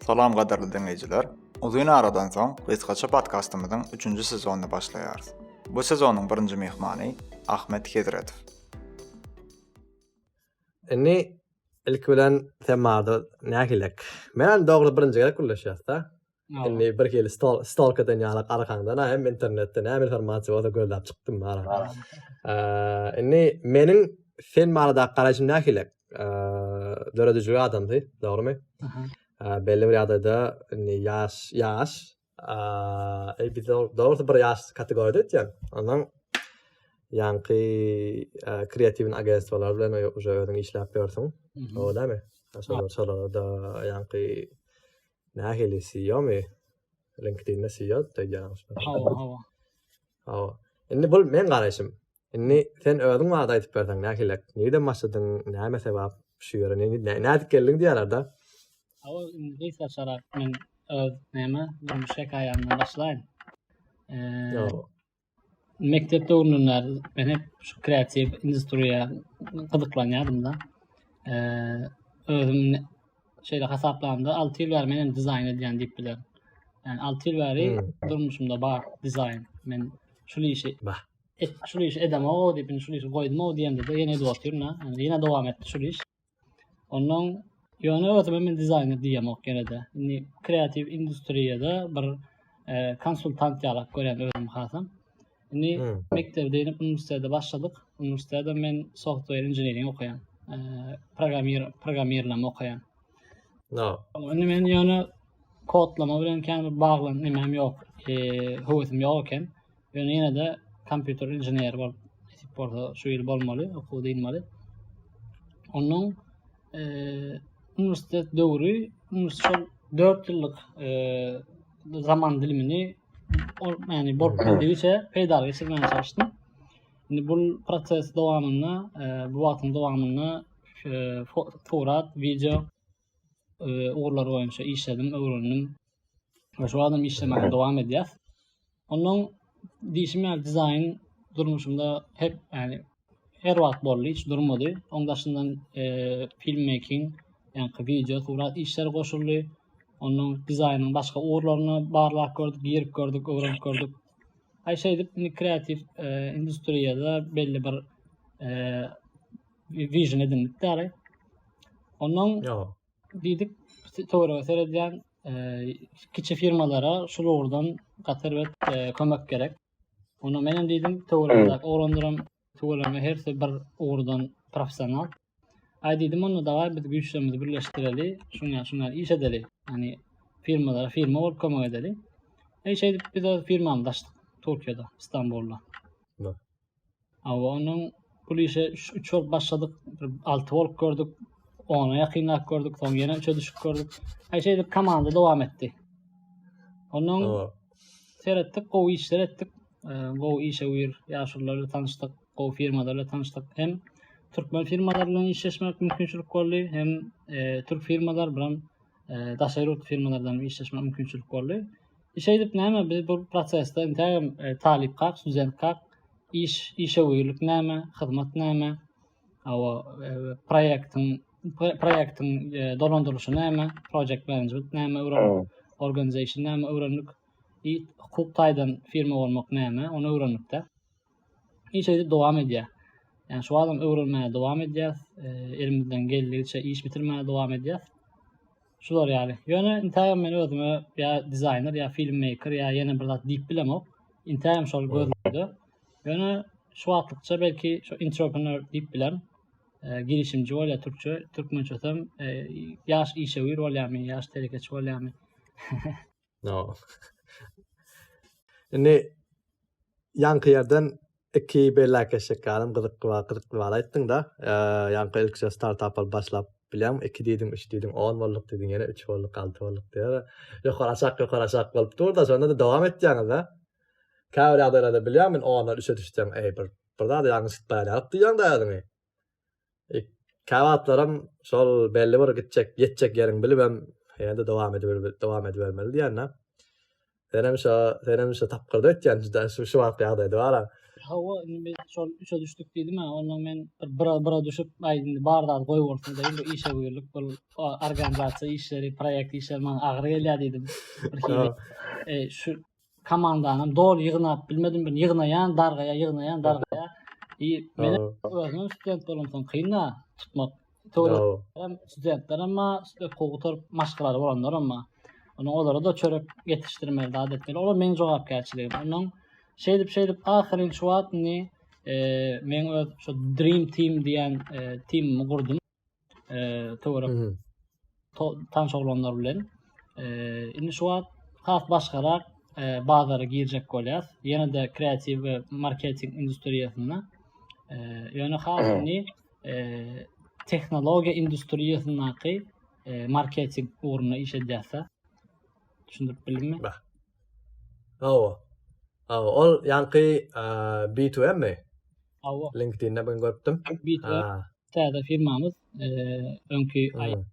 Salam gadyrly diňleýjiler. Uzyn aradan soň gysgaça podkastymyzyň 3-nji sezonyny başlaýarys. Bu sezonyň birinji myhmany Ahmet Hezretow. Indi ilki bilen sen maňa nähilek? Bilen dogry birinji gezek gürleşýäs-de. Indi bir hili stol stolka den ýaly arkaňda na hem internetde näme informasiýa bolsa gözläp çykdym ara. Indi meniň sen barada garaýşym nähili? Döredijili adamdy, dogrymy? Belli bir ýagdaýda indi ýaş ýaş e biz dogry bir ýaş kategoriýada etýän. Ondan ýanky kreatiwin agentstwalar bilen uje özüň işläp ýörsüň. O näme? Şolar şolar da ýanky Nähili SEO-my? LinkedIn-de SEO diýýäňiz. Hawa, hawa. Hawa. Indi bul men garaýşym. Indi sen özüň barada aýdyp berseň, nähilek? Nireden başladyň? Näme sebäp şu ýere? Nädip geldiň diýýärler-de? Hawa, indi gysga çarap men öz näme, durmuş hekaýamdan başlaýyn. Eee, Mekdep döwrümden bäri men hep şu kreatiw industriýa gyzyklanýardym-da. Özüm şeýle hasaplamda, alty ýyl bäri men dizaýn edýän diýip bilerin. Ýani alty ýyl bäri durmuşymda bar dizaýn. Men şul işi şul işi edemok-ow diýip, indi şul işi goýdum-ow diýemde-de ýene edip otyryn-da. Ýene dowam etdi şul iş. Ondan ýöne özüme men dizaýner diýemok ýene-de. Indi kreatiw industriýada bir e, konsultant ýalak görýän özüm hasam. Indi hmm. mekdepde inip uniwersitete başladyk. Uniwersitede men software engineering okaýan. E, programmir programmirleme okaýan. No. Indi men ýöne kodlama bilen kän bir baglan nemem ýok. E, höwesim ýok eken. Ýöne ýene-de kompýuter inženeri bolup nesip bolsa şu ýyl bolmaly, okuw dynmaly. Onuň e, uniwersitet döwri şol 4 ýyllyk e, zaman dilimini ol ýagny bolup bildigiçe peýdaly geçirmäge çalyşdym. Indi bu proses dowamynda, e, bu wagtyň dowamynda e, surat, video ugurlar boýunça işledim, öwrendim. Ve şu adam işlemeye devam edýär. Ondan diýişim ýaly dizaýn durmuşumda hep ýani her wagt boldy, hiç durmady. Oň daşyndan e, film making, ýani wideo surat işleri goşuldy. Ondan dizaýnyň başga ugurlaryna barlap gördük, girip gördük, öwrenip gördük. Aý şeýdip, kreativ e, industriýada belli bir e, Vision edindik däli. Ondan diýdik, töwerege seredýän e, kiçi firmalara şu ugurdan gatar we e, kömek gerek. Onda men hem diýdim, töwerege oglanlaram töwerege hersi bir ugurdan professional. Aý diýdim, onda daga biz güýçlerimizi birleşdireli, şuňa şuňa iş edeli. Ýani firmalara firma bolup kömek edeli. Eý şeýdip biz öz firmamyzy açdyk Türkiýede, Istanbulda. Hawa onuň pul işe üç bolup başladyk. Bir alty bolup gördük. Ona ýakynlap gördük. Soň ýene üçe düşüp gördük. Aý şeýdip komanda dowam etdi. Onuň seretdik, gowy işler etdik. Gowy işe wir ýaşulular bilen tanyşdyk, gowy firmalar bilen tanyşdyk. Hem türkmen firmalar bilen işleşmek mümkinçilik boldy, hem türk firmalar bilen daşary ýurt firmalardan işleşmek mümkinçilik boldy. Şeýdip näme biz bu prosesde intägem e, talypkak, studentkak iş işewürlik näme, hyzmat näme, awa e, proýektiň proýektiň e, dolandyrylyşy näme, project management näme öwrendik, organization näme öwrendik, hukuk taýdan firma bolmak näme, ony öwrendik-de. Iş edip dowam edýär. Yani şu adam öwrenmäge dowam edýär. E, elimizden geldigiçe iş bitirmäge dowam edýär. Şular yani. Ýöne intägem men özüme ýa dizaýner ýa filmmaker ýa ýene bir zat diýip bilemok. Intägem şol gözlerde. Ýöne şu wagtlykça belki şu entrepreneur diýip bilen e, girişimci bolýar türkçe, türkmençe hem e, ýaş işewür bolýarmy, ýaş telekeçi bolýarmy. No. Indi ýaňky ýerden iki bellakeşlik galam gyzykly bar, gyzykly bar aýtdyň da. Ýaňky ilkije startap alyp başlap bilýän, iki diýdiň, üç diýdiň, on bolduk diýdiň, ýene üç bolduk, alty bolduk diýýär. Ýokary aşak, ýokary aşak bolup dur-da, şonda-da dowam etýäňiz-de. Käbir ýagdaýlarda bilýän men ondan üçe düşseň, eý, bir zady ýalňyş etmän ýalyk diýýäň-dä özüňi. Käwagtlaram şol belli bir gitjek, ýetjek ýeriň bilibem, ýa-da dowam edip dowam edibermeli diýýän-dä. Senem şo, senem şo tapgyrda ötýän juda şu şu wagtky ýagdaýda bar-a. Hawa, indi biz şol üçe düşdük diýdim-ä, ondan men bir bira bira düşüp, aý indi bar zady goýbolsun dedim, bu işe buýrlyk, bu organizasiýa işleri, proýekt işleri maňa agyr gelýär diýdim. Bir hili şu komandanam doly ýygnap bilmedim bir ýygnaýan dargaýa ýygnaýan dargaýa i men özüm student bolan soň kynda tutmak hem studentler hem şeýle kowtar maşgalary bolanlar hem onuň olara da çörek ýetişdirmeli zat etmeli olar meniň jogapkärçiligim onuň şeýdip şeýdip ahyryň şu wagtyny e, men öz şu dream team diýen e, teamimi gurdum e, töwerek tanş oglanlar bilen e, indi şu wagt has başgarak e, bazara girjek bolýar. Ýene de kreatiw we marketing industriýasynda. E, ýöne hasyny e, tehnologiýa industriýasyndaky e, marketing ugrunda iş edýärse. Düşündirip bildimmi? Hawa. Hawa, ol ýanky B2M-mi? Hawa. LinkedIn-de ben görüpdim. B2M. Täze firmamyz öňki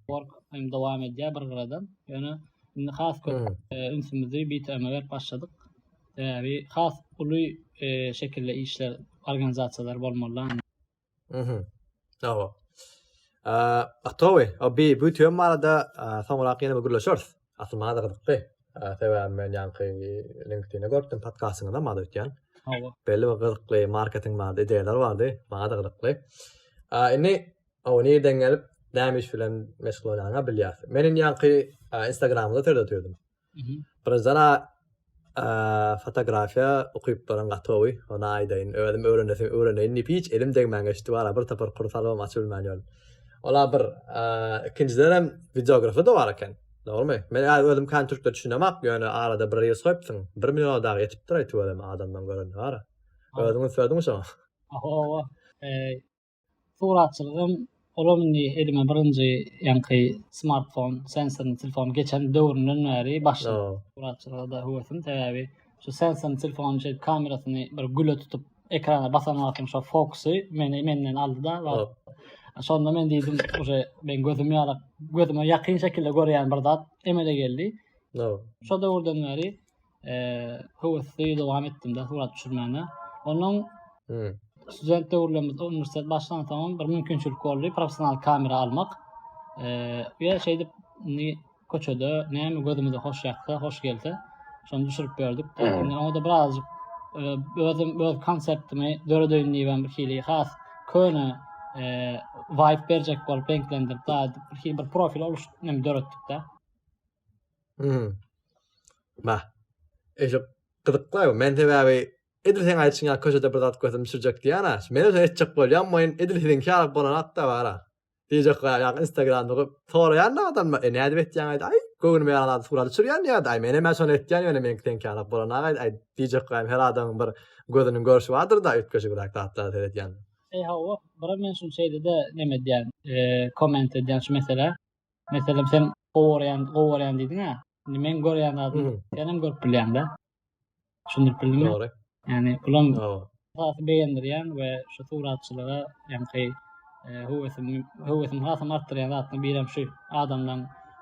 work hem dowam edýär bir gyradan. Ýöne indi has köp ünsümizi BTM-e berip başladyk. Sebäbi has uly şekilde işler, organizasiýalar bolmaly. Mhm. Hawa. Atowy, o BTM barada soňrak ýene bir gürleşeris. Asyl maňa-da gyzykdy. Sebäbi men ýaňky LinkedIn-de görüpdim, podkastyňyzam maňa-da öýtýän. Hawa. Belli bir gyzykly marketing bardy, ideýalar bardy. Maňa-da gyzykly. Indi o nireden gelip, näme iş bilen meşgul bolýanyňy bilýäs. Men indi ýaňky Instagramda törde otyrdim. Birazdan Fotografiýa ukyplaryň gaty gowy, ony aýdaýyn. Özüm öwrenesim, öwreneýin diýip hiç elim degmän geçdi, wara bir topar kurs alybam açyp bilmän ýördüm. Ol-a bir. Ikinjiden hem wideografy-da bar eken, dogrumy? Men häzir özüm kän türkçe düşünemok, ýöne arada bir reels goýupsyň, bir milliona dagy ýetipdir-aý tüweleme adamlaryň göreni bar-a. Özüňiň söziňmi şoňa? Hawa, hawa. Suratçylygym olam indi elime birinji ýaňky smartfon, sensorny telefon geçen döwründen bäri başlady. Suratçylyga da höwesim sebäbi şu sensorny telefonyň şeýdip kamerasyny bir güle tutup ekrana basan wagtym şo fokusy meni menden aldy-da wagt. Şonda men diýdim, uje men gözüm ýarak, gözüme ýakyn şekilde görýän bir zat emele geldi. Şo döwürden bäri höwesli dowam etdim-de surat düşürmäne. Onuň student döwürlerimiz uniwersitet başlan soň bir mümkinçilik boldy professional kamera almak. Eee, şeýdip indi köçede näme gözümize hoş ýaksa, hoş gelse, şony düşürip berdik. Indi oňa da birazjyk e, özüm öz konseptimi döredeýin diýip bir hili has köne eee vibe berjek bolup reňklendirip, bir hili bir profil oluşdyryp döretdik-de. Hmm. Bah. Eşe gyzyklar. Men sebäbi edil sen aýtşyň ýa köşede bir zat gördüm düşürjek diýýän-ä. Men öýe etjek bolýan boýun edil siziň ýaly bolan hatda bar-a. Diýjek bolýan ýa Instagramda gyp soraýan da adam e, näde betýän aýt. Aý, göwnüme ýaran surat düşürýän ýa-da aý menem şony etýän ýöne meňki seňki ýaly bolan aý aý diýjek bolýan her adamyň bir gözüniň görşi bardyr-da üýtgeşik bir zatlar seredýän. Eý hawa, bro men şuny şeýle-de neme edýän, e, komment edýän şu meselä. Meselem sen gowy görýän, gowy görýän diýdiň-ä. Indi men görýän zadymy sen hem görüp bilýäň-de. Düşündirip bildiňmi? Dogry. Ýani bulam esasy begendirýän we şu suratçylyga ýaňky e, höwesim höwesim hasam artdyrýan zatlaryň biri hem şu adamdan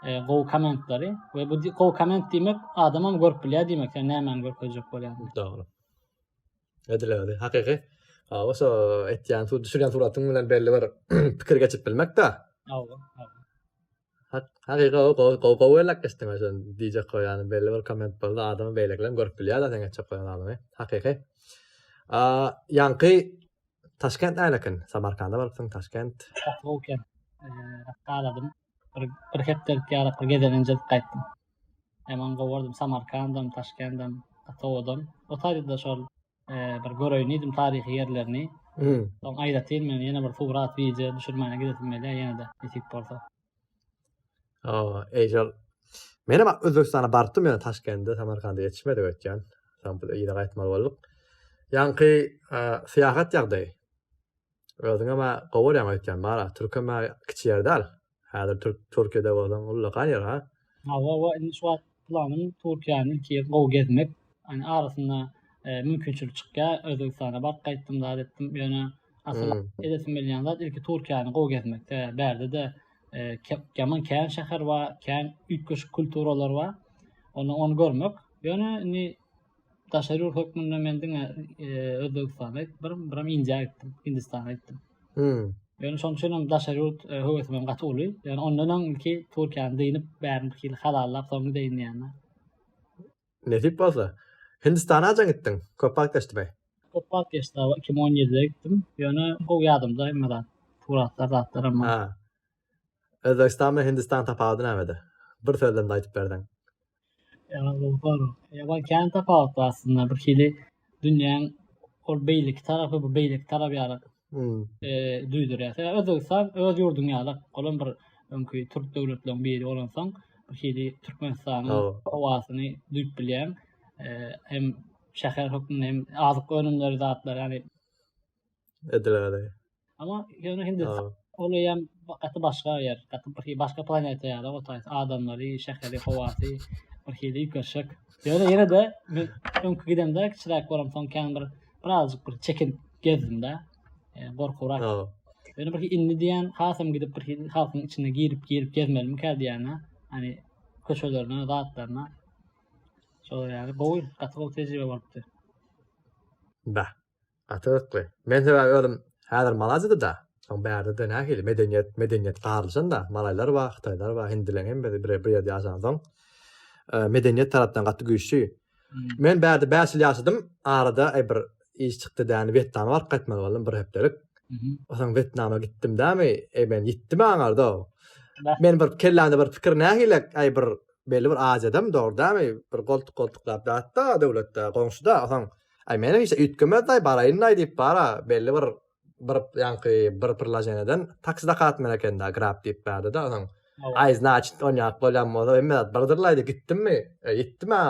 e, gowy kommentleri we bu gowy komment diýmek adamam görüp bilýär diýmek, sen nämäni görkezjek bolýan. Dogry. edilegini hakyky Awa şo etýän şu düşürýän suratyň bilen belli bir pikir geçip bilmekde. Awa. Hakyky o gowy gowy gowy elak geçdiň şo diýjek goý ýany belli bir komment boldy adamy beýlekiler görüp bilýär da sen geçjek goýan adamy. Hakyky. A ýanky Taşkent nälekin? Samarkanda barypsyň Taşkent. Taşkent. Eee, galadym. bir, bir hepdelik ýarak bir gezelenje edip gaýtdym. Hemen gowardym Samarkandam, Taşkendem, Atawodan. O taýda şol e, bir göreýin diýdim taryhy ýerlerini. Hmm. Soň aýratyn men ýene bir surat, wideo düşürmäne gidesim gelýär ýene de nesip bolsa. Aa, eýşol. Men hem Özbegistana barypdym ýöne Taşkende, Samarkanda ýetişmedi öýtýän. Soň biz ýere gaýtmaly bolduk. Ýaňky e, syýahat ýagdaýy. Özüňe ma gowy örän öýtýän bara türke ma kiçi ýer däl häzir türk türkiýede bolsaň ullakan ýer ha. Hawa we indi şu wagt planym Türkiýäni ilki ýer gowy gezmek. Ýani arasynda mümkinçilik çykýar Özbegistana baryp gaýtdym zat etdim ýöne asyl edesim gelýän zat ilki Türkiýäni gowy gezmek sebäbi bärdede ýaman kän şäher bar kän üýtgeşik kulturalar bar ony görmek ýöne indi daşary ýurt hökmünde men diňe Özbegistana gitdim, bir biram Indiýa gitdim, Hindistana gitdim. Hmm. Ýöne şonuň üçin hem daşary ýurt e, höwesim hem gaty uly. Ýöne ondan öň ilki Türkiýäni dynyp, bärini bir hili halallap, soň gideýin diýýän. Nesip bolsa. Hindistana haçan gitdiň? Köp wagt geçdi be. Köp wagt geçdi, 2017-de gitdim. Ýöne gowy ýadymda hemme zat. Suratlar, zatlar hem. Ha. Özbegistan bilen Hindistan tapawudy nämede? Bir sözlem de aýdyp berseň. Ýa bar kän tapawut bar aslynda bir hili dünýäň ol beýleki tarapy bu beýleki tarap ýaly duýdurýar. Özbegistan öz ýurduň ýaly olam bir öňki türk döwletleriň biri bolansoň bir hili Türkmenistanyň howasyny duýup bilýäň. Hem şäher hökmünde hem azyk önümleri zatlar ýaly Edilgädi. Ama ýöne hindi ol ýam gaty başga ýer. Gaty bir hili başga planeta ýaly o taýs adamlary, şäheri, howasy bir hili ýükerşek. Ýöne ýene de men öňki gidemde kiçiräk bolam soň kän bir birazjyk bir çekin gezdimde. E, Gorkurak. Ýöne bir indi diýen hasam gidip bir hili halkyň içine girip girip gezmelimi kä diýene. Hani köçelerine, zatlaryna. Şol ýaly gowy, gaty gowy tejribe bolupdy. Bah. Gaty gyzykly. Men sebäbi özüm häzir Malaziýada-da, soň bärde-de nähili medeniýet, medeniýet garlyşanda, malaýlar bar, hytaýlar bar, hindileň hemmesi bir ýerde ýaşansoň, medeniýet tarapdan gaty güýçli. Men bärde bäş ýyl ýaşadym, arada aý bir iş çykdy däni Wetnama baryp gaýtmaly boldum bir hepdelik. Soň Wetnama gitdim dämi, aý men ýitdi maňarda. Men bir kellämde bir pikir nähili aý bir belli bir Aziýadam dogry dämi, bir goltuk-goltuklap ýatda döwletde, goňşuda, soň Ay meniň işe üýtgemezday baraýynday diýip bara belli bir bir ýaňky bir priloženeden taksi zakat men ekenda grab diýip bardyda soň ay znaçit on ýak bolýan bolsa hemme zat birdirlaýdy gitdimmi e, gitdim a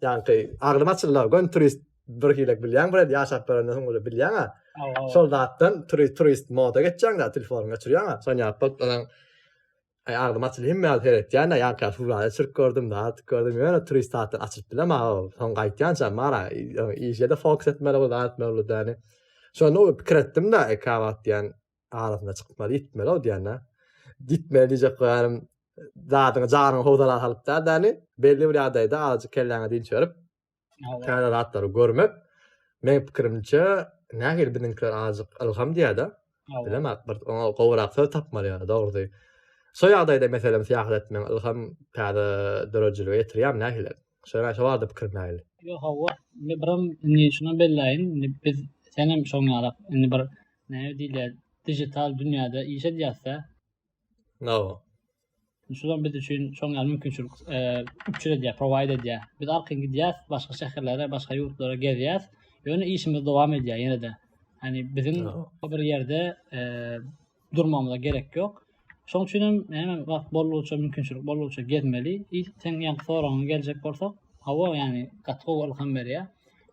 ýaňky aglym açyldy gön turist bir hilek bilýän bir ýaşap görenden soň ol bilýän a şol zatdan turist turist moda geçýän da telefonyňy geçirýän a soň ýap bolup Ay agzym açyl hemme ýaly seretýän da ýaňky ýaly hurrada çirk gördüm zat gördüm ýöne turist zatdan açylyp bilem aga ol soň gaýtýançam bar a işede fokus etmeli bul zat etmeli bul däni şonda o pikir etdim da eka wagt diýen arasynda çykmaly gitmeli o diýen da gitmeli diýjek goýarym zadyňy jaryňy howzala salyp da däni belli bir ýagdaýda azajyk kelläňe dinç berip täze zatlary görmek meň pikirimçe nähili biziňkiler azajyk ylham diýäde bilemak bir oňa gowrak söz tapmaly ýa dogrusy şo ýagdaýda meselem syýahat etmek ylham täze döredijilige ýetirýärmi nähili şoýa şo barada pikirim nähili ýok hawa indi biram indi şuny belläýin indi biz senem şoň ýalak indi bir näme diýilýär dijital dünýäde iş edýäsde Nawa. Şular biz üçin çoň ýaly mümkinçilik üpjün edýär, prowaýd edýär. Biz arkaýyn gidýäs, başga şäherlere, başga ýurtlara gezýäs. Ýöne işimiz dowam edýär ýene-de. Ýani biziň bir ýerde durmagymyza gerek ýok. Şoň üçin hem näme wagt boldugyça, mümkinçilik boldugyça gezmeli. Ilk seň ýa soragyňa geljek bolsak, hawa, ýani gaty gowy ylham berýär.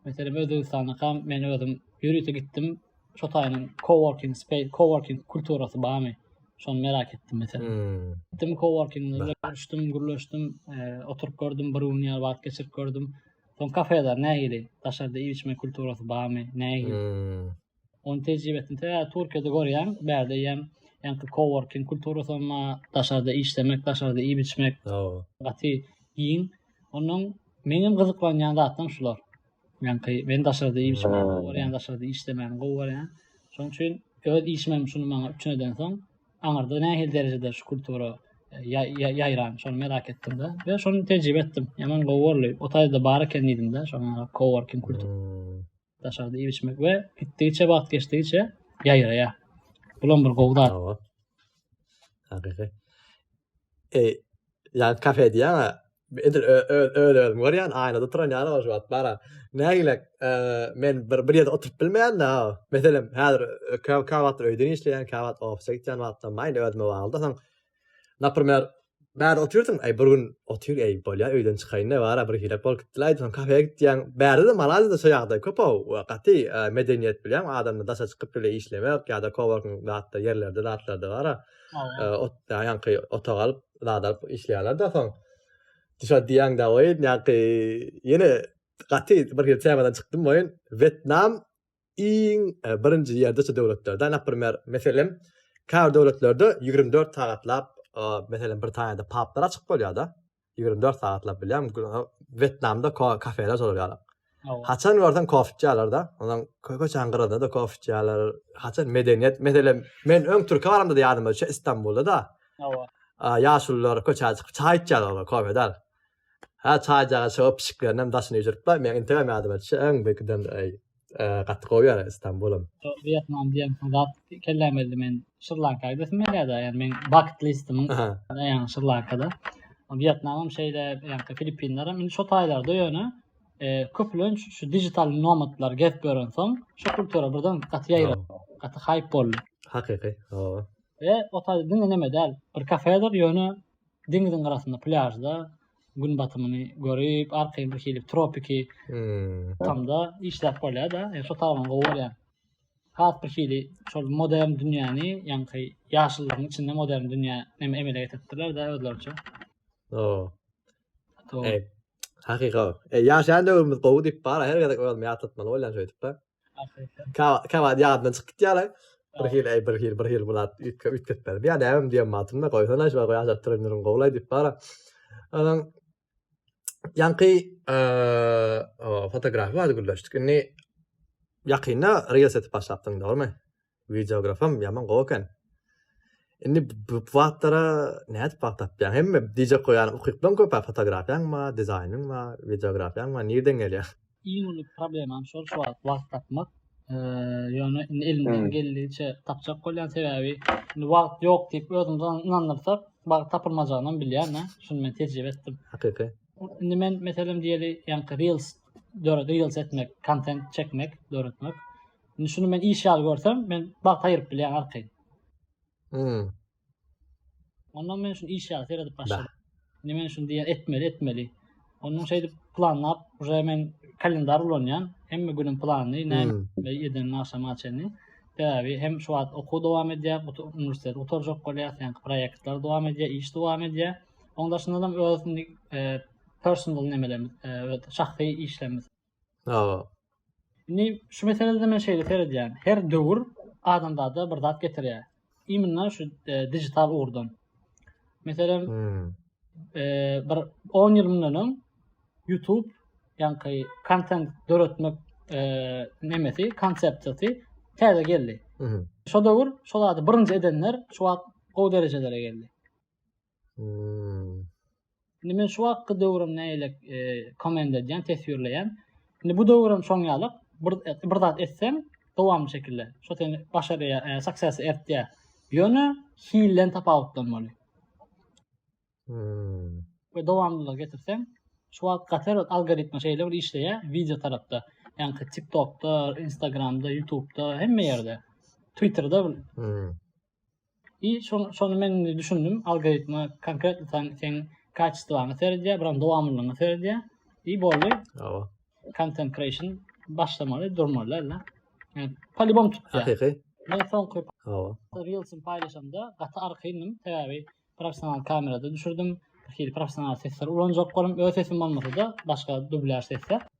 Meselem, Özbegistanakam men özüm ýörite gitdim. Şu taýdan coworking space, coworking kulturasy barmy? Şony merak etdim mesela. Hmm. Gitdim coworking görüşdim, gürleşdim, e, oturyp gördüm, bir gün ýaly wagt geçirip gördüm. Son kafeler nähili? Daşarda iýip içme kulturasy barmy? Nähili? Hmm. Onun tejribesini te Türkiýede görýän, bärde ýem ýaňky coworking kulturasy ma daşarda işlemek, daşarda iýip içmek. Gaty giň. Onuň meňem gyzyklanýan zatym şular. Men ki, men daşarda işimi görýän, daşarda işlemäni gowy görýän. Şonuň üçin öz işimem şuny maňa üçin eden soň, aňyrda nähili derejede şu kultura e, ýaýran, şony merak etdim-de. Ve şony tejribe etdim. Ýaman gowy boldy. O taýda bar eken diýdim-de, şoňa coworking kultur. Hmm. Daşarda işmek ve gitdigiçe wagt geçdigiçe ýaýraýar. Bulam bir gowy zat. Hakyky. E, Yani kafe diýýän a edil öz özümi görýän aýnada turan ýaly ol şu wagt bara nägilek e, men bir bir ýerde oturyp bilmeýän da meselem häzir e, käwagt wagt öýden işleýän käwagt ofise gitýän wagtda maýn özüme bagly soň например bärde otyrsyň aý bir gün otyr aý bolýar öýden çykaýyn da bara bir hilek bolup gitdiler aýdyň kafeýe gitýän bärde de malazi de şu ýagdaý köp ow gaty e, medeniýet bilýän adamda daşa çykyp bile işlemek ýa-da koworking zatda ýerlerde zatlarda bara Ot ýanky otag alyp, zat alyp işleýärler da soň. Dişa diýen da oýun ýanky ýene gaty bir ýer temadan çykdym oýun. Wetnam iň e, birinji ýerde şu döwletlerde, naprimýer, meselem, käbir döwletlerde 24 sagatlap, meselem, Britaniýada paplar açyk bolýar-da. Ýigrimi dört sagatlap bilýän, Wetnamda kafeler çozulýar. Haçan görseň kofe içýärler-de, ondan köçäň gyrasynda da kofe içýärler. Haçan medeniýet, meselem, men öň Türkiýe baramda ýadyma düşýär, Istanbulda da. Hawa. Ýaşulular köçä çykyp çaý içýärler, olar kofe däl. Hä, çaýjaga çykyp, pişiklerinem daşyny ýüzüripler. Men integem ýadyma düşýär, öň bir giden gaty gowy ýa Istanbulam. Wýetnam diýen zat kelläme geldi men Şri-Lankada gitdim ýa da ýa men bucket listimiň ýa Şri-Lankada. Wýetnamam şeýle ýa Filippinleram indi şo taýlarda ýöne köplenç şu digital nomadlar gezip ýören soň şu kultura birden gaty ýaýra gaty haýp boldy. Hakyky. Hawa. Ve o taýda diňe neme däl bir kafedir ýöne deňziň gyrasynda plýažda gün batymyny görüp, arkaýyn bir hili tropiki hmm. tamda işläp bolýar-da. Yani şo tarapyny gowy görýän. Has bir hili şol modern dünýäni, ýaňky ýaşlylaryň içinde modern dünýä näme emele getiripdirler de özleriçe. Oo. To. Ey, hakyka. E, ýaşan döwrümiz gowy diýip bar, her gezek özüm ýatlatmaly bolýan şeýdip-de. Käwagt ýadyndan çykyp gitýärler. Bir hili, eý, bir hili, bir hili bular üýtgetmeli. Bir ýa-da äwim diýen matumda goýsana şular goýa ajalyp duran ýeriň gowulaý diýip bara. Ondan ýaňky fotografiýa barada gürleşdik. Indi ýakynda reels etip başlapdyň, dogrumy? Wideografam ýaman gowy eken. Indi bu zatlara nädip wagt tapýaň? Hemme diýjek goýan ukypdan köpä fotografiýaň ba, dizaýnyň ba, wideografiýaň ba nirden gelýär? Iň uly problemam şol şu wagt wagt tapmak. Ýöne indi elimden geldigiçe tapjak bolýan sebäbi indi wagt ýok diýip özümizi ynandyrsak wagt tapylmajagyny bilýän da şuny men tejribe etdim. Hakyky. Indi men meselem diýeli ýaňky reels döredi reels etmek kontent çekmek döretmek. Indi şuny men iş ýaly görsem, men bagt aýyryp bilýän arkaýyn. Hmm. Ondan men şuny iş ýaly seredip başladym. Indi men şuny diýä etmeli, etmeli. Ondan şeýdip planlap, uje men kalendar ulanýan. Hemme günüm planly, näme hmm. eden agşama çenli. Sebäbi hem şu wagt okuw dowam edýär, uniwersitet gutarjak bolýar, sen proýektler dowam edýär, iş dowam edýär. Ondan daşynda hem öz e, personal nemelerimiz, e, şahsy işlerimiz Hawa. Indi şu meselede men şeýle seredýän. Her döwür adamzada bir zat getirýär. Iminna şu e, digital ugurdan. Meselem, hmm. e, bir 10 ýyl mundan öň YouTube ýaňky kontent döretmek e, nemesi, konsepsiýasy täze geldi. Hmm. Şu döwür şu zady birinji edenler şu wagt gowy derejelere geldi. Hmm. Şimdi men şu hakkı döwrüm neyle komend edýän, teswirleýän. Şimdi bu döwrüm şoň ýaly bir bir zat etsem, dowamly şekilde şu seni başarýa, e, success ertýä. Ýöne hilden tapawutlanmaly. Hmm. Ve dowamlylyk getirsen, şu wagt gatar algoritma şeýle bir işleýär video tarapda. Ýani TikTokda, Instagramda, YouTubeda, hemme ýerde. Twitterda. Hmm. I şonu şonu men indi düşündim. Algoritma konkretno sen sen kaçistwany seredýär, buran dowamlylygyny seredýär. I boldy. Awa. Content creation başlamaly, durmaly ella. Yani, polibom tutýar. Hakyky. Men soňky Awa. Reels'im paýlaşamda gaty arkaýynnym. Sebäbi professional kamerada düşürdim. Hili professional sesler ulanjak bolum. Öz sesim bolmasa-da, başga dublýaž sesler.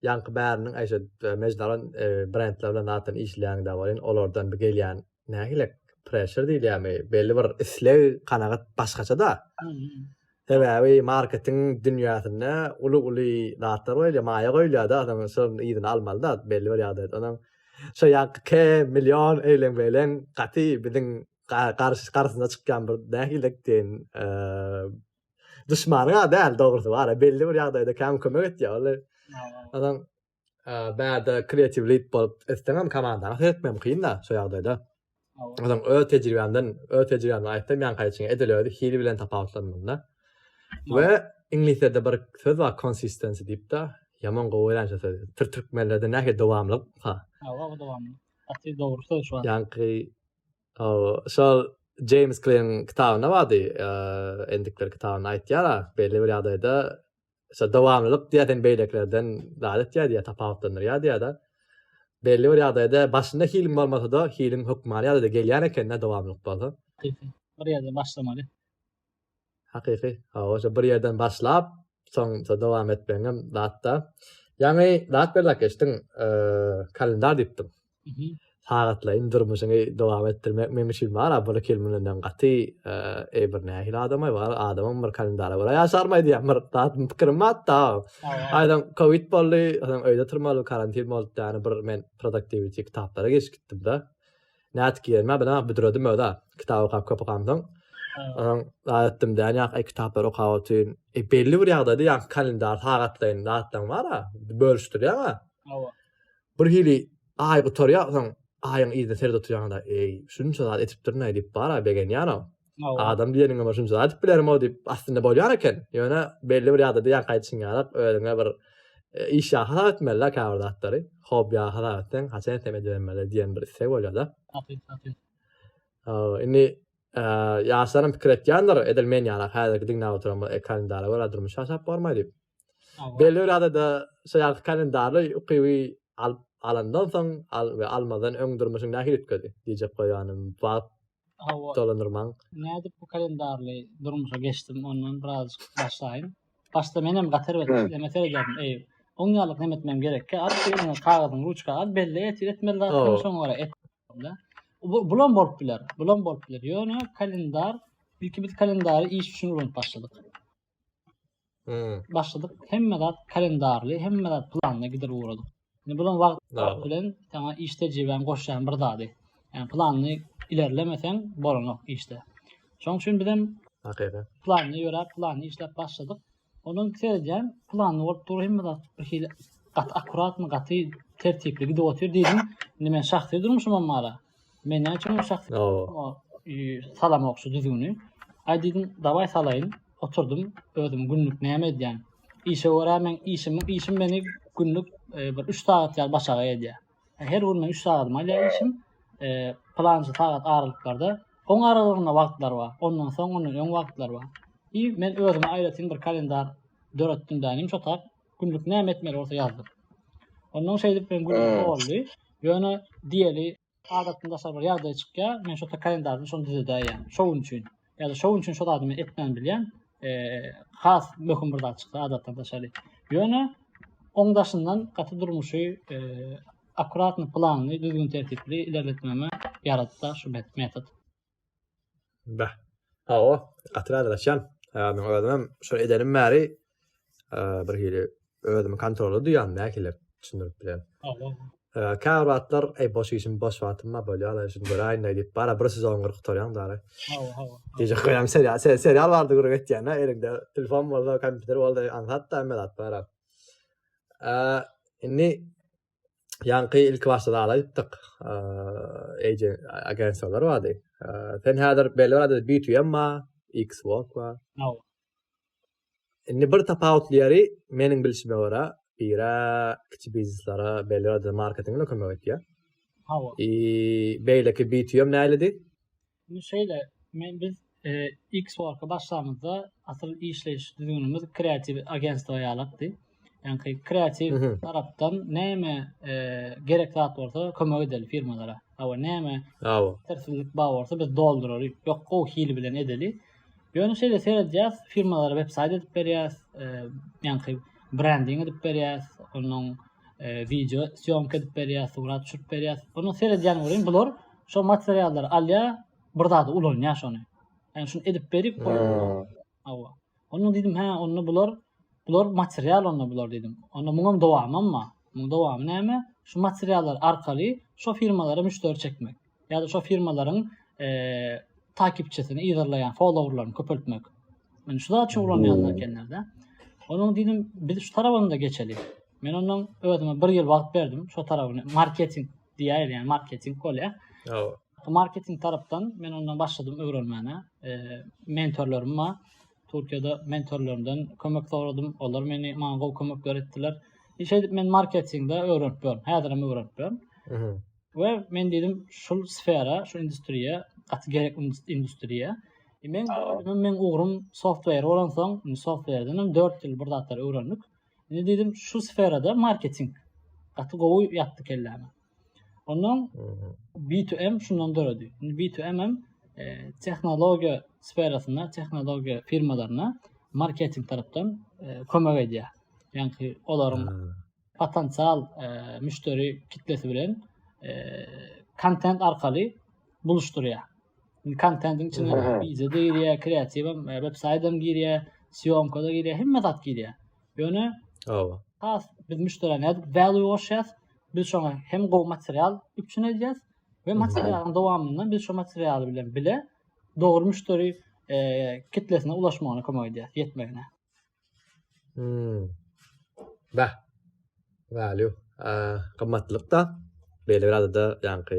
Ýaňky bäriniň eşe mejdalan e, brendler bilen zaten işleýäňde bolýan, olardan bir gelýän nähilek pressure diýilýärmi, belli bir isleg, kanagat başgaça-da. Sebäbi marketing dünýäsinde uly-uly zatlar bolýar, maýa goýulýar-da, adam şonuň yzyny almaly-da belli bir ýagdaýda. Onuň şo ýaňky K million eýleň beýleň gaty biziň garşy garşyna çykýan bir nähilek diýen e, Düşmanyň a däl dogrusy bar. Belli bir ýagdaýda käm kömek etýär ol. Adam bärde kreatiw lead bolup etseňem komandany seretmem kyn da şu ýagdaýda. Adam öz tejribämden, öz tejribämden aýtsam, ýan gaýçyň edil özi hili bilen tapawutlanmanda. We iňlisçede bir söz bar consistency diýip de, ýaman gowy öýränçe söz. Tür türkmenlerde nähili dowamlyk? Ha. Hawa, dowamlyk. Aty dogry söz şu. Ýanky Hawa, şol James Kleýň kitabynda bardy, endikler kitabynda aýtýar, belli bir ýagdaýda şo dowamlylyk diýýän beýlekilerden zat etýär diýýär, tapawutlandyrýar diýýär-de. Belli bir ýagdaýda başynda hiliň bolmasa-da, hiliň hökmany ýagdaýda gelýän ekende dowamlylyk bolsa. Bir ýerde başlamaly. Hakyky. Hawa, şo bir ýerden başlap, soňra dowam etmegiň hem zat-da. Ýaňy zat berlap geçdiň, kalendar diýipdiň. Sagatlaýyn durmuşyňy dowam etdirmek meň üçin bar-a, bir-iki ýyl mundan öň gaty, eý, bir nähili adam-aý, bar, adamam bir kalendara görä ýaşarm-aý diýýän bir zat, pikirim batda. Aýdan kowid boldy, soň öýde oturmaly, karantin boldy, ýagny bir men produktiwiti kitaplara geçip gitdim-de. Nädip girme, bilen büdredim öza. Kitap okap köp okamdan. Ondan zat etdim däni ýa ay kitaplar okap otyn. E belli bir ýagdaýda ýa kalendar sagatlaýyn zatdan bara bölüşdirýär ha. Hawa. Bir hili ay gutarýar soň aýyň yzyna serdip oturýanda eý şunça zat etipdir nädip bara begenýär ha. Adam diýeniňe başym şunça aýdyp bilerim o diýip aslynda bolýar eken. Ýöne belli bir ýadada diýen gaýtşyň ýa özüňe bir e, iş ýa hasap etmeli la käbir zatlary. Hob ýa hasap etseň, haçan etsem edibermeli diýen bir istek bolýar da. Hakyt, hakyt. Indi e, ýaşlaryň pikir etýändir, edil men ýaly häzirki diňläp oturan bu kalendara görä durmuş ýaşap barmaý diýip. Belli bir ýadada şu ýaly kalendary ukyby alyp alandan soň al we almadan öň durmuşyň nähili üýtgedi diýjek goýanym wagt Hawa. Dolandyrmaň. Nädip bu kalendarly durmuşa geçdim ondan biraz başlaýyn. Başda menem gatar berip işleme seredýärdim. Eý, on ýarlyk näme etmem gerekki? At ýerinden kagyzyň ruçka al, belli et, etmeli zat Hawa. şoňa görä et. da. Bu bulam bolup biler. Bulam bolup biler. Ýöne kalendar ilki biz kalendary iş üçin ulanyp başladyk. başladyk. Hemme zat kalendarly, hemme zat planda gider ugradyk. Indi bulan wagt bilen sana iş tejriben goşýan bir zady. Yani planly ilerlemeseň bolanok işte. Şoň üçin biz hem hakyky planly ýöräp, planly işläp başladyk. Ondan seredýän planly bolup dur hemme zat bir hili gaty akkuratny, gaty tertipli gidip otyr diýdim. Indi men şahsy durmuşym hem mala. Men näme üçin şahs salamok şu düzgüni. Ay dedim davay salayyn. Oturdum özüm günlük näme edýän. Işe görä men işim işim meni günlük e, bir 3 sagat ýaly başaga edýär. E, her gün men 3 sagatymy alýar işim. E, plançy sagat aralyklarda Oň aralygynda wagtlar bar. Ondan soň ondan öň wagtlar bar. I men özüme aýratyn bir kalendar döretdim dänim şo tak. Günlük näme etmeli bolsa ýazdyr. Ondan şeýdip men gün ee. boldy. Ýöne diýeli adatdan daşary bir ýagdaý çykýar. Men şo kalendarda şony düzedäýen. Şo gün üçin. Ýa-da şo gün üçin şo zadymy etmän bilýän. Eee has möhüm bir zat çykdy adatdan daşary. Ýöne oň daşyndan gaty durmuşy eee akkuratny planly düzgün tertipli ilerletmäme ýaratdy şu metod. Bäh. Hawa, gaty razylaşýan. Ýagny özümem şol edenim bäri bir hili özümi kontrolda duýýan nähili düşündirip bilen. Käbir wagtlar eý boş işim boş wagtym bar bolýar da şuny göräýin diýip bara bir sezon gyryp gutarýaň dara. Hawa hawa. Gije goýýan serial serial bardy görüp etýän da eliňde telefon bolsa kompýuter bolsa aňsat da emmedat bar. Indi Ýaňky ilki başda zala aýtdyk. Eje agensiýalar bardy. Sen häzir belli bardy B2M ma, Xbox wa. Indi bir tapawutly ýeri meniň bilşime görä, bire kiçi bizneslere belli bardy marketingle kömek etýär. Hawa. I beýleki B2M näylidi? Indi şeýle, men biz X-Work-a başlamyzda asyl işleýiş düzgünimiz kreatiw agentstwa ýalakdy. Ýaňky kreatiw tarapdan näme gerek zat bolsa kömek edeli firmalara. Hawa näme? Hawa. Terslik bar bolsa biz dolduraly. Ýok, gowy hili bilen edeli. Ýöne şeýle seredýäs, firmalara websaýt edip berýäs, ýaňky brending edip berýäs, onuň video syýomka edip berýäs, surat çüp berýäs. Onuň seredýän welin bular Şo materiallary alýa, bir zada ulanýa şony. Ýani şuny edip berip, hawa. Onda diýdim, hä, onda bular bular material onda bular diýdim. Onda muňam dowamam bar. Muň dowamy näme? Şu materiallar arkaly şo firmalara müşderi çekmek. Ýa-da şo firmalaryň eee takipçisini ýygyrlaýan followerlaryny köpeltmek. Men şu zat üçin ulanýanlar ekenlerde. Onuň diýdim, biz şu tarapynda geçeli. Men ondan özüme bir ýyl wagt berdim, şo tarabyny marketing diýäýer, ýa marketing bolýar. Hawa. Marketing tarapdan men ondan başladym öwrenmäne. E, mentorlarym bar. Türkiýede mentorlarymdan kömek soradym. Olar meni maňa gowy kömek beretdiler. Hiç edip men marketingde öwrenip ýörün. Häzir hem öwrenip ýörün. Mhm. We men dedim, şu sfera, şu industriýa, gaty gerek industriýa. E, men men ugrym software bolansoň, softwareden 4 ýyl bir zatlar öwrendik. Mhm. Indi dedim şu sferada marketing gaty gowy ýatdy kelläme. Ondan B2M şundan döredi. Indi B2M hem e, tehnologiýa sferasynda, tehnologiýa firmalaryna marketing tarapdan e, kömek edýär. Ýani olaryň hmm. potensial e, müşderi kitlesi bilen e, kontent arkaly buluşdurýar. Indi kontentiň içine video da girýär, kreativ hem, e, web saýt hem girýär, syýomka da girýär, hemme zat girýär. Ýöne Hawa. has biz müşderä nädip value goşýas? Biz şoňa hem gowy material üpjün edýäs we materialyň dowamynda biz şu material bilen bile dogry müşderi e, kitlesine ulaşmagyna kömek edýäs, ýetmegine. Hmm. Bah. Value. Aa, gymmatlyk da. Belli bir adada ýaňky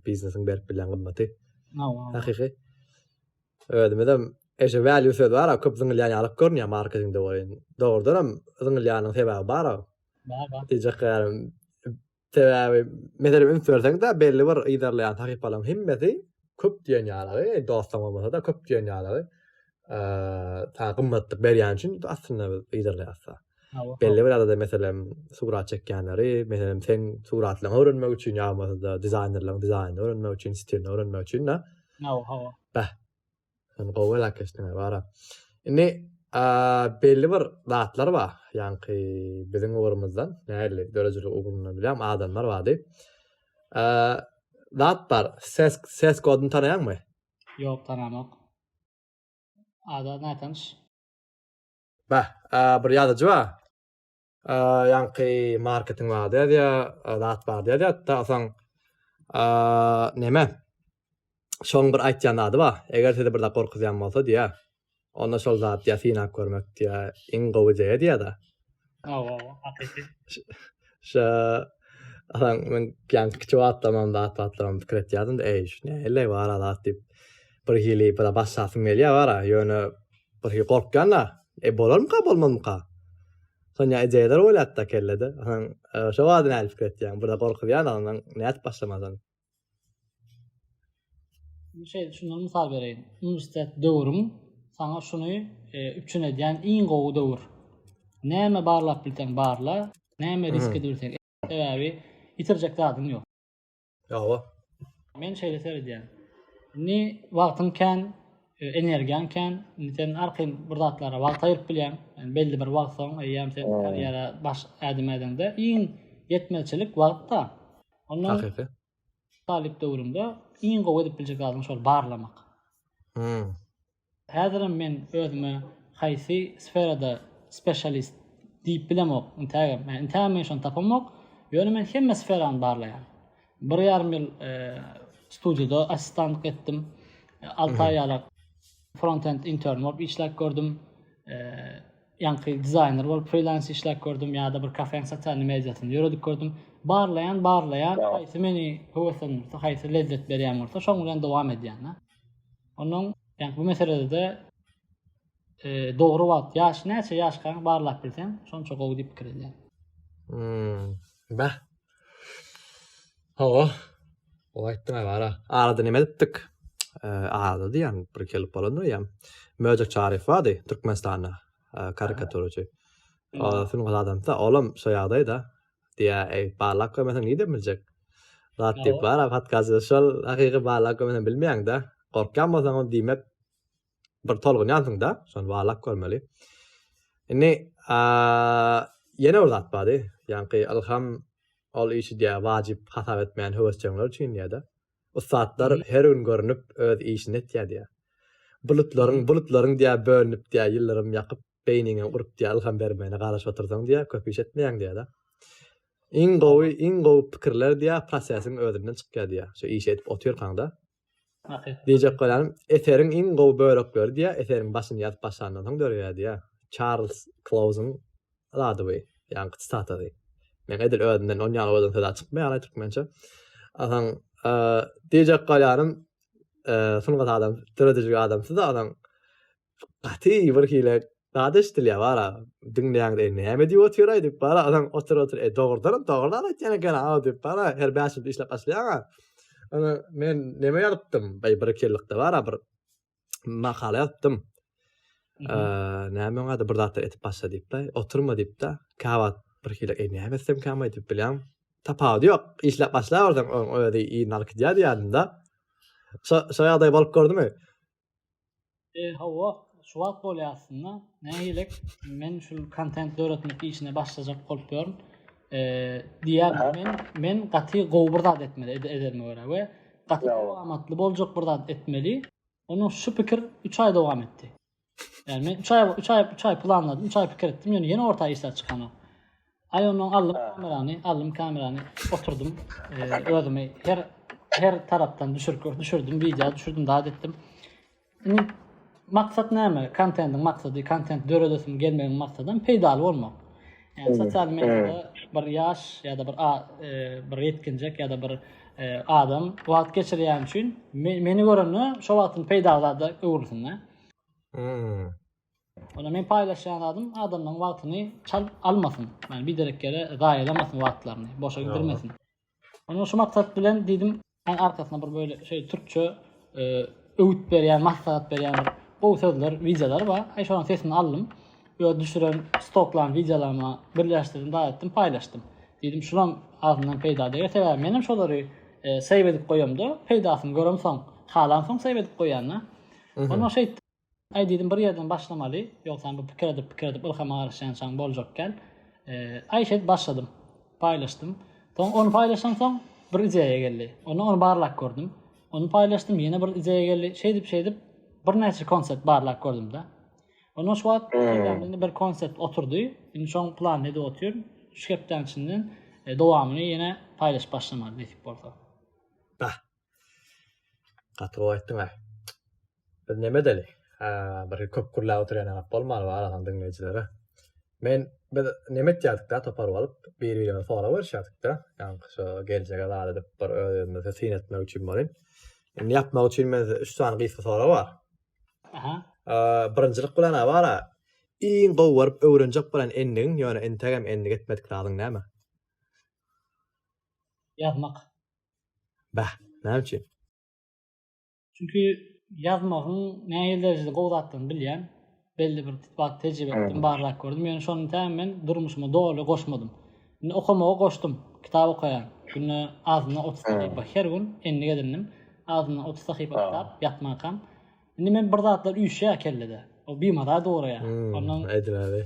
biznesiň berip bilen gymmaty. Hakyky. Özümiz hem eşe value söz bar, köp zyňylýan ýalyk görünýär marketingde bolýan. Dogrudan hem zyňylýanyň sebäbi bar. Bar, bar. Diýjek ýarim Sebäbi, meselem, üns berseň-de, belli bir yzarlaýan sahypalaryň hemmesi köp diýen ýaly, dostlaň bolmasa-da, köp diýen ýaly, saňa gymmatlyk berýäni üçin aslynda yzarlaýarys-da. Belli bir adada, meselem, surat çekýänleri, meselem, seň suratlaryňy öwrenmek üçin ýa bolmasa-da dizaýnerleriň dizaýnyny öwrenmek üçin, stilini öwrenmek üçin-de. Hawa, hawa. Bäh. Sen gowy elak geçdiň bara. Indi belli bir zatlar bar. Ýanki biziň ugrumyzdan, näli döredijilik ugrundan bilýän adamlar bardy. Zat bar. Ses ses koduny tanaýaňmy? Ýok, tanamok. Ada nätanyş. Bah, bir ýazyjy bar. ýaňky marketing bardy ýa zat bardy ýa ýatda asaň näme şoň bir aýtýan zady bar eger sizi bir zat gorkuzýan bolsa diýä onda şol zat ýa synap görmek diýä iň gowy diýä diýä da awa hakyky şa asaň men ýaňky kiçi wagtda mam zat batlam pikir etýärdim eý şu näle bar zat diýip Bir hili bir başlasyň gelýär bara, ýöne bir hili gorkýan-da, e, bolarmyka, bolmazmyka? Sonja ideýalar oýlap-da kellede, soň şo barada nädip pikir etýäň? Bir-de gorkuzýan ondan nädip başlamalyň? Şeýle şundan mysal bereýin. Uniwersitet döwrüň saňa şuny üpjün edýän iň gowy döwür. Näme barlap bilseň barla, näme risk edip bilseň et, sebäbi ýitirjek zadyň ýok. Hawa. Men şeýle seredýän. Indi wagtyň kän, e, energiýaň kän. Indi sen arkaýyn bir zatlara wagt aýryp bilýäň. Yani belli bir wagt soň eýýäm sen karýera baş ädim ädiňde iň ýetmezçilik wagtda. Ondan Hakyky. Talyp döwrüňde iň gowy edip biljek zadyň şol barlamak. Hmm. Häzirem men özüme haýsy sferada spesialist diýip bilemok, intägem. Ýani intägem men şony tapamok. Ýöne men hemme sferany barlaýan. Bir ýarym ýyl studiýada assistanlyk etdim. Alty aý ýalak frontend intern bolup işläp gördüm. Ýaňky dizaýner bolup frilans işläp gördüm ýa-da bir kafeň sosial mediasyny ýöredip gördüm. Barlaýan, barlaýan, haýsy meni höweslendirse, haýsy lezzet berýän bolsa, şoň bilen dowam edýän-de. Onuň ýa bu meselede dogry wagt ýaş näçe ýaşkaň barlap bilseň şonça gowy diýip pikir edýän. Hmm. Bä. Hawa. O aýtdyň agara. Arada näme edipdik? Arada diýen bir gelip bolanda ýam. Möjek Çaryf bardy Türkmenistanda karikaturçy. Ol film adamsa olam şo ýagdaýda diýä eý barlap görmeseň nidem biljek zat diýip bar a podkast şol hakyky barlap görmeseň bilmeýäň da gorkýan bolsaň ol diýmek bir tolgunýansyň da şony barlap görmeli indi ýene bir zat bardy ýaňky ylham ol işi diýä wajyp hasap etmeýän höwesjeňler üçin diýä-de ussatlar her gün görünip öz işini etýär diýä bulutlaryň bulutlaryň diýä bölünip diýä ýyldyrym ýakyp Beýniňem urup diýýär, ylham bermegine garaşyp otursaň diýýär, köp iş etmeýäň diýýär-de. Iň gowy, iň gowy pikirler diýýär, prosesiň özünden çykýar diýýär. Şu işi edip otyrkaňda. Hakykat. Diýjek bolýanym, eseriň iň gowy bölekleri diýýär, eseriň başyny ýazyp başlandan soň döreýär diýýär. Çarlz Klauzyň zady bu, ýaňky tsitatady. Meň edil özümden on ýaly owazdan söz-ä çykmaýar-aý türkmençe. Asaň, diýjek bolýanym, sungat adam, döredijilik adamsyz-a asaň. Gaty bir hile zat eşdilýär bara. Diňleýäňiz eý näme diýip otyraý diýip bara adam otur otur eý dogrudanam dogry zat aýtýan eken aw diýip bara her bäş ýylda işläp başlaýaňa. Ony men neme ýazypdym bir bir iki ýyllykda bara bir makala ýazypdym. Näme oňa da bir zatlar etip başla diýipda oturma diýipda käwagt bir hile eý näme etsem kämaý diýip bilýän tapawudy ýok işläp başlaberseň oň özi iýnalkydýar diýýärdim da. Şo şo ýagdaý bolup gördümi? E, hawa, şu wagt bolýar aslynda. Nähilek, men şu kontent döretmek işine başlajak bolup ýörün. E, diýär, men men gaty gowy bir zat etmeli ed ederme görä we gaty amatly boljak bir zat etmeli. Onuň şu pikir 3 aý dowam etdi. Yani men 3 ay 3 ay 3 ay planladım, 3 ay pikir etdim. Yani yeni orta işler çıkan o. Ay ondan aldım kamerany, aldım kamerany, oturdum. Ee, özümi her her taraftan düşürüp düşürdüm, video düşürdüm, daha ettim. Şimdi maksat näme? Kontentin maksadı, kontent döredesim gelmegiň maksadydan peýdaly bolmak. Yani sosyal medyada bir yaş ya da bir a, e, bir yetkinjek ya da bir e, adam wagt geçirýän üçin me, meni görende şu wagtyn peýdaly zada öwrülsin. Hmm. Onda men paýlaşýan zadym adamlaryň wagtyny çalyp almasyn. Ýagny biderek ýere zaýalamasyn wagtlaryny, boşa gidirmesin. Onda şu maksat bilen diýdim, Sen arkasyna bir böyle şeýle türkçe öwüt berýän, maslahat berýän bir gowy sözler, wideolar bar. Aý şolaryň sesini aldym. Öz düşüren stoklaryň wideolaryma birleşdirdim, zat etdim, paýlaşdym. Diýdim, şulam azyndan peýda deger. Sebäbi men hem şolary save edip goýamda, peýdasyny göremsoň, halamsoň save edip goýýan-da. Onda şeýtdim. Aý diýdim bir ýerden başlamaly, ýogsam bu pikir edip pikir edip ylhama garaşýançaň boljak kän. Aý şeýdip başladym. Paýlaşdym. Soň ony paýlaşansoň bir ideýa geldi. Onda ony barlap gördüm. Ony paýlaşdym ýene bir ideýa geldi. Şeýdip şeýdip birnäçe konsept barlap gördümde. Ondan şu wagt hmm. bir konsept oturdy. Indi şoň planyny edip otyryn. Şu hepdäň içinden e, dowamyny ýene paýlaşyp başlamaly nesip bolsa. Bah. Gaty gowy aýtdyň-a. Biz näme edeli? Bir köp gürläp oturýan agap bolmaly bar adam diňleýjilere. Men biz näme etýärdik-da topar bolup, bir-birimize sorag berişýärdik-de, ýaňky şu geljege zat edip bir öz-özümize syn etmek üçin bolin. Indi ýapmak üçin men üç sany gysga sorag bar. Aha. Birinjilik bilen bar. Iň gowy görüp öwrenjek bolan endigiň, ýöne entegem endik etmedik zadyň näme? Ýazmak. Bäh, näme üçin? Çünki ýazmagyň näýe derejede gowy zatdygyny bilýän, belli bir tutlak tejribe etdim, barlak gördüm. Ýöne şony täm men durmuşyma doly goşmadym. Indi okamagy goşdum. Kitap okaýan. Günde azyndan 30 sahypa her gün endik edindim. Azyndan 30 sahypa kitap ýatmakam. Indi men bir zatlar üýşýär kellede. O bimaza duraýar. Ondan aýdyň abi.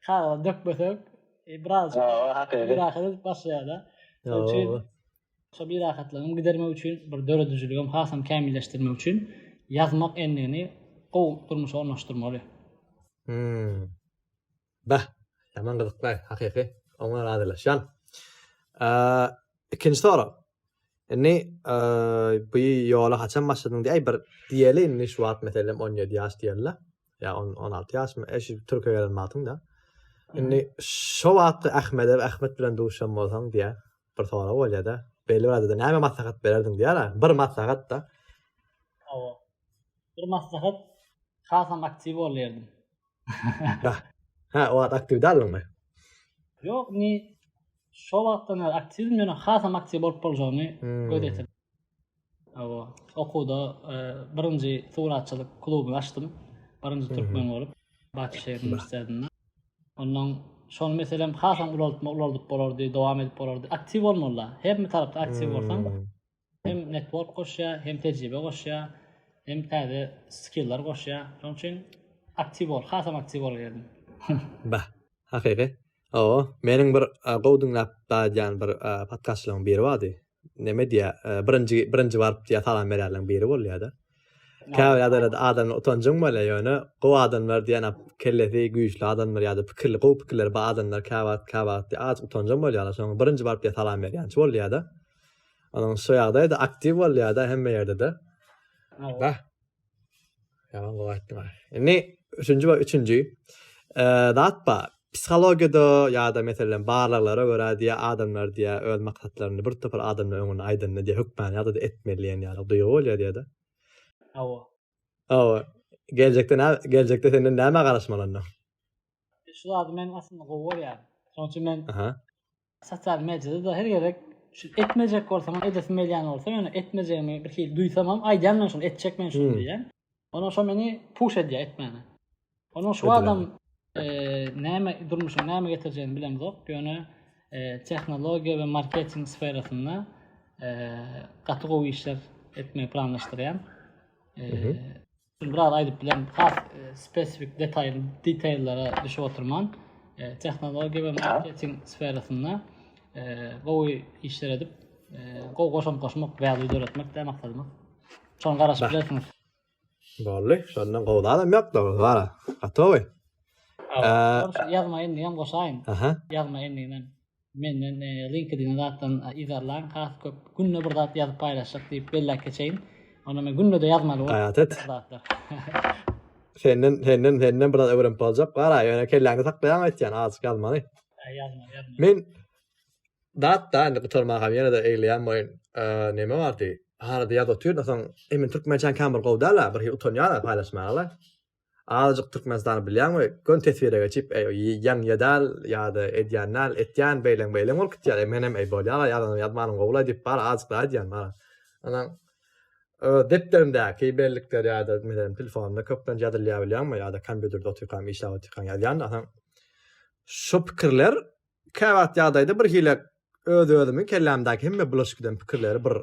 Kagyza dökmesek, e, biraz birahatyz başlaýar-da. Şonuň üçin şo birahatlygyny gidermek üçin, bir döredijiligim hasam kämilleşdirmek üçin ýazmak endigini gowy durmuşa ornaşdyrmaly. Hmm. Bah, ýaman gyzykly, hakyky. Oňa razylaşýan. Ikinji sorag. Indi bu ýola haçan başladyň diýäý bir diýeli indi şu wagt meselem 17 ýaş diýeli. Ýa 16 ýaşmy? Eşi Türkiýe gelen wagtyň da. Indi şu wagt Ahmede Ahmet bilen duşan bolsaň diýä. Bir sorag bolýar da. Belli wagtda näme maslahat bererdiň diýär. Bir maslahat da. Owa. Bir maslahat hasam aktiw bolýardy. Ha, ha, o wagt aktiw däldiňmi? Ýok, ni şo wagtdan bäri aktiwdim, ýöne hasam aktiw bolup boljagyny hmm. göz ýetirdim. Awa, okuwda e, birinji suratçylyk klubuny açdym. Birinji hmm. türkmen bolup, Bakü şäher uniwersitetinde. Ondan şol meselem hasam ulaltma ulaldyp bolardy, dowam edip bolardy. Aktiw bolmaly. Her bir tarapda aktiw bolsaň, hmm. Hem network goşýar, hem tejribe goşýar, hem täze skillar goşýar. Şonuň üçin aktiw bol, hasam aktiw bol geldim. Bah, hakyky. Hawa, meniň bir gowy diňläp barýan bir podkastçylaryň biri bardy. Näme diýýär, birinji birinji baryp diýýär, salam berýärleriň biri bolýar-da. Käbir ýagdaýlarda adamlar utanjyň bolýar, ýöne gowy adamlar diýen kellesi güýçli adamlar ýa-da pikirli, gowy pikirleri bar adamlar käwagt, käwagt diýýär, az utanjyň bolýarlar, soň birinji baryp diýýär, salam berýänçi bolýar-da. Onuň şu ýagdaýda aktiw bolýada hemme ýerde-de. Bah. Ýaman gowy aýtdyň. Indi üçünji we üçünji zat bar. Psihologiýada ýa-da meselem barlaglara görä diýä adamlar diýä öz maksatlaryny bir topar adamlar öňünde aýdanda diýä hökmany ýa-da etmeli diýen ýaly duýgy bolýar diýä-de. Hawa. Hawa. Geljekde nä geljekde senden näme garaşmaly onda? Şu zady men aslynda gowy görýärin. Şonuň üçin men Sosial mediada-da her gezek şu etmejek bolsam, edesim gelýän bolsa, ýöne etmejegimi bir hili duýsamam, aýdýan men şuny, etjek men şuny diýýän. Ondan şo meni puş edýär etmäne. Ondan şu adam näme durmuşyň näme getirjegini bilemzok, ýöne tehnologiýa we marketing sferasynda gaty gowy işler etmegi planlaşdyrýan. Şuny biraz aýdyp bilemok. Has spesifik detaýly detaýlara düşüp oturman, tehnologiýa we marketing sferasynda gowy işler edip, gowy goşant goşmak, value döretmek de maksadymyz. Şoňa garaşyp bilersiňiz. Bolly, şondan gowy zadam ýok-da, wara. Gotowy. Ýazma endigem goşaýyn. Ýazma endiginem. Menden LinkedIn zatdan yzarlaň has köp günde bir zat ýazyp paýlaşjak diýip belläp geçeýin. Onda men günde-de ýazmaly bolup. Gaýat et. Senden senden senden biraz öwrenip boljak. Gara ýöne kelläňde saklaýaň aýtýan azjyk ýazmaly. Ýazmaly ýazmaly. Men dat da indi gutarma ha ýene de egleýän boýun. Näme bardy? Harada ýazyp otyryn soň emin türkmençäň kan bir gowy däl-a bir utanýan paýlaşmaga. Azajyk Türkmenistany bilýän we gön teswire geçip, eý, ýan ýedal ýa-da edýän dal, etýän beýleň beýleň bolup gitýär. Eý, menem eý bolýar-a, ýazanymy ýazmanym gowy-la diýip, bar azajyk-la edýän bar. Anaň öz depderimdäki bellikler ýa-da menem telefonymda köplenç ýazylýar bilýäňmi ýa-da kompýuterde otyrkam, işläp otyrkam ýazýan-da. Anaň şu pikirler käwagt ýagdaýda birhili öz-özümi kellämdäki hemme bulaşyk eden pikirleri bir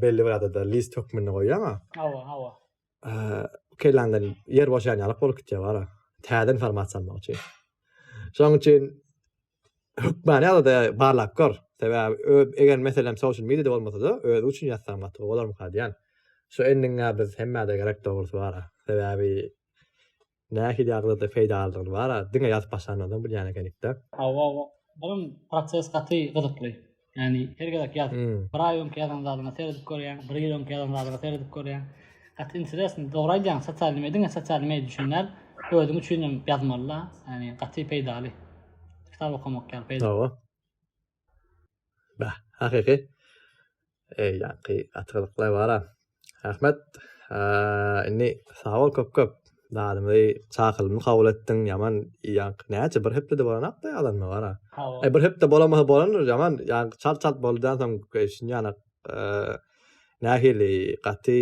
belli bir adada list hökmünde goýýan-a. Hawa, hawa. Kelandan yer boşan yalyk bolup gitýär bara. Täze informasiýa almak üçin. Şonuň üçin hökmany ýaly-da barlap gör. Sebäbi eger meselem social media-da bolmasa-da özi üçin ýazsaň gaty gowy bolarmyka diýýän. Şu endiňä biz hemmä-de gerek dogrusy bara. Sebäbi Nähili ýagdaýda peýdalydygyny bara diňe ýazyp başlandan soň bilýän ekenikdä. Hawa, olam proses gaty gyzykly. Ýagny her gezek ýaz. Bir aý öňki ýazan zadyňa seredip görýäň, bir ýyl öňki ýazan zadyňa seredip görýäň. Gaty interesno. Dogry aýdýaň, sosial media diňe sosial media üçin däl, özüň üçin hem ýazmaly-da. Ýagny gaty peýdaly. Kitap okamak ýaly peýdaly. Hawa. Bah, hakyky. Eý, ýaňky gatyrlyklar bara. Rahmet. Indi sag bol köp-köp. Dadyňy çakylymly kabul etdiň, ýaman ýaňky näçe bir hepdede bolanakda ýalanmy bara. Eý, bir hepde bolamasa bolandyr, ýaman ýaňky çalt-çalt bolýansoň, eý, şunýanak nähili gaty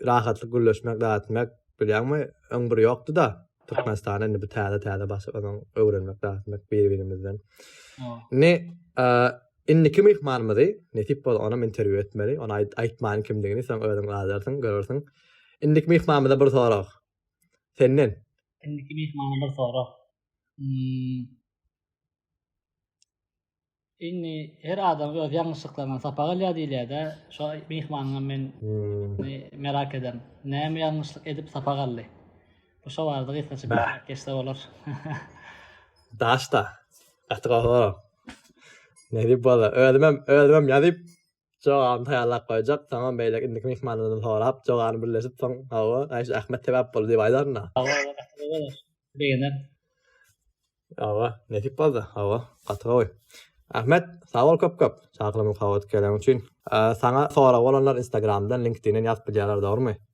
rahatlyk gürleşmek zat etmek bilýäňmi öň bir ýokdy da Türkmenistana indi bu täze täze başyp onuň öwrenmek zat etmek bir birimizden ne indiki myhmanymyzy nesip bol onam interwýu etmeli ony aýtmaýyn kimdigini sen özüň gaýdarsyň görersiň indiki myhmanymyza bir sorag senden indiki myhmana bir sorag hmm. Indi her adam öz ýalňyşlyklaryndan sapak alýar diýilýär-de, şo myhmanyňam men merak ederin. Näme ýalňyşlyk edip sapak aldy? Bu şo barada gysgaça belläp geçse bolar. Daşda. Gaty gowy. Nädip bolsa, özümem, özümem ýazyp, Jogabyny taýýarlap goýjak, soňam beýleki indiki myhmanlardan sorap, jogany birleşip, soň, Hawa, aý, şu Ahmet sebäp boldy diýip aýdaryn-a. Hawa, ol gaty gowy bolar. Begener. Hawa, nesip bolsa. Hawa, gaty gowy. Ahmet, sag bol köp-köp, çakylygyma sowgat geleň üçin. Saňa soragy bolanlar Instagramdan, LinkedIn-den ýazyp bilýärler, dogrumy?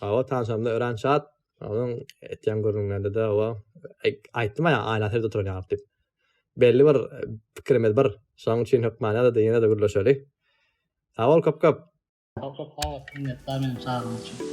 Hawa tanşamda öran çat onuň etýän gürrüňlerinde-de hawa aýtdym-a ýa aýlansy ýerde oturan ýalyk diýip. Belli bir pikirimiz bir. Şonuň üçin hökmany-da ýene-de gürleşeli. Sag bol köp-köp! Köp köp sag bol, minnetdar meni çagyrgaň üçin.